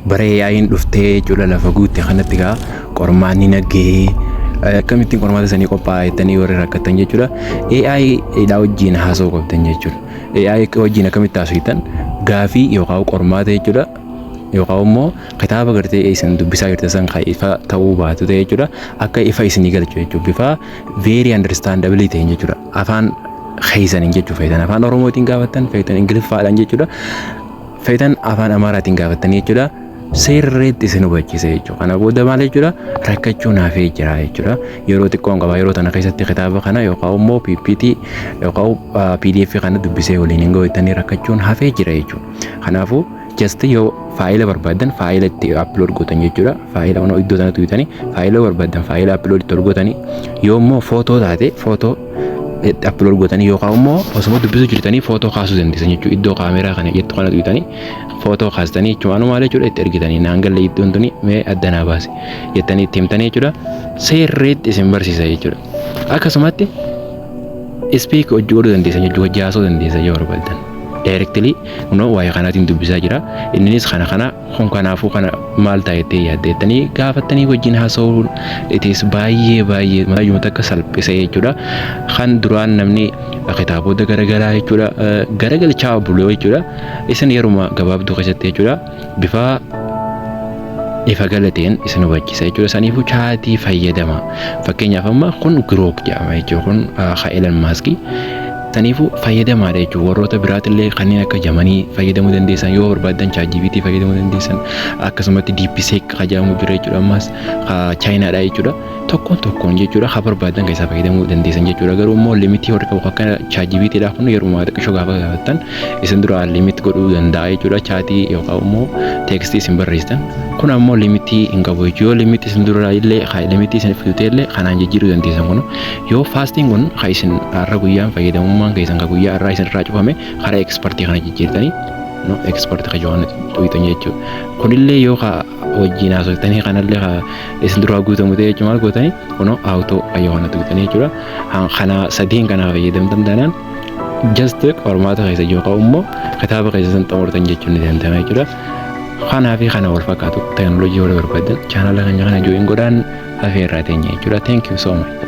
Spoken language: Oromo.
Bara AI'n dhuftee cula lafa guutte kanatti gaa qormaanni naggahee akkamittiin qormaata sanii qophaa'a jettanii warri rakkattan jechuudha. AI dhaa wajjin haasa'uu qabdan jechuudha. AI wajjin akkamitti haasoftan gaafii yookaan qormaata jechuudha. Yookaan immoo kitaaba gartee isin dubbisaa jirtan san kan ifa ta'uu baatu ta'e jechuudha. Akka ifa isinii galchu jechuudha. Bifa very understandable ta'een jechuudha. Afaan keessaniin jechuu feetan afaan oromootiin gaafattan feetan ingiliffaadhaan jechuudha. feetan afaan amaaraatiin gaafattanii jechuudha seerreetti isin hubachiisa jechuudha. Kana booda maal jechuudha rakkachuu naafee jira jechuudha. Yeroo xiqqoon qaba yeroo tana keessatti kitaaba kana yookaan immoo PPT yookaan PDF kana dubbisee waliin hin goottanii rakkachuun hafee jira jechuudha. Kanaafuu just yoo faayila barbaadan faayila itti upload gootan jechuudha. Faayila ono iddoo sanatti guutanii faayila barbaadan faayila upload itti ol gootanii yoo immoo footoo taate footoo itti upload gootanii yookaan immoo osuma dubbisuu jirtanii footoo kaasuu dandeessan jechuudha. Iddoo kaameeraa kana jettu kana tuqxanii footoo kaastanii jechuun waan maal jechuudha itti ergitanii naan galle iddoon tuni mee adda naa baase jettanii itti himtanii jechuudha. Seerreetti isin barsiisa jechuudha. Akkasumatti ispiik hojii godhuu dandeessan jechuudha. Hojii haasoo dandeessan yoo barbaadan. Daayirektilii kunoo waa'ee kanaatiin dubbisaa jira. Innis kana kana kun kanaafuu kana maal ta'a jettee yaaddeettanii gaafattanii wajjin haasa'uun itiis baay'ee baay'ee mataayuma takka salphisee jechuudha. Kan duraan namni kitaabota garaagaraa jechuudha garagalchaa buloo jechuudha. Isin yeruma gabaabduu keessatti jechuudha bifa ifa galateen isin hubachiisa jechuudha. Saniifuu chaatii fayyadama. Fakkeenyaaf amma kun girook jedhama jechuudha kun ka Elon Maaskii. Saniifu fayyadamaadha jechuun warroota biraatillee kanneen akka jamanii fayyadamuu dandeessan yoo barbaaddan ChatGPT fayyadamuu dandeessan akkasumatti DeepSeek ka jedhamu jira jechuudha ammas ka chaayinaadha jechuudha tokkoon tokkoon jechuudha ka barbaaddan keessaa fayyadamuu dandeessan jechuudha garuu immoo limitii warri qabu akka ChatGPT dha kun yeruma xiqqishoo gaafa gaafattan isin dura limit godhuu danda'a jechuudha chaatii yookaan immoo teekstii isin barreessitan kun ammoo limitii hin qabu jechuudha yoo limitii isin dura illee limitii isin fidutee illee kanaan jijjiiruu dandeessan kun Yoo faastiin kun ka isin har'a guyyaan fayyadamummaan keessan ka guyyaa har'aa isin irraa cufame karaa ekspartii kana jijjiirtanii no ekspart ka johan tuqxan jechuudha. Kunillee yoo ka wajjin haasoftanii kanallee ka isin duraa guutamu ta'e jechuudha maal gootanii kunoo awutoo ka johan tuqxanii jechuudha. Kana sadiin kana fayyadamtan taanaan just qormaata keessa yookaan immoo kitaaba keessa san xumurtan jechuun ni danda'ama jechuudha. Kanaa fi kana wal fakkaatu teeknooloojii yoo barbaadan chaanala keenya kana jooyin godhaan afeerraa teenya jechuudha. Thank you so much.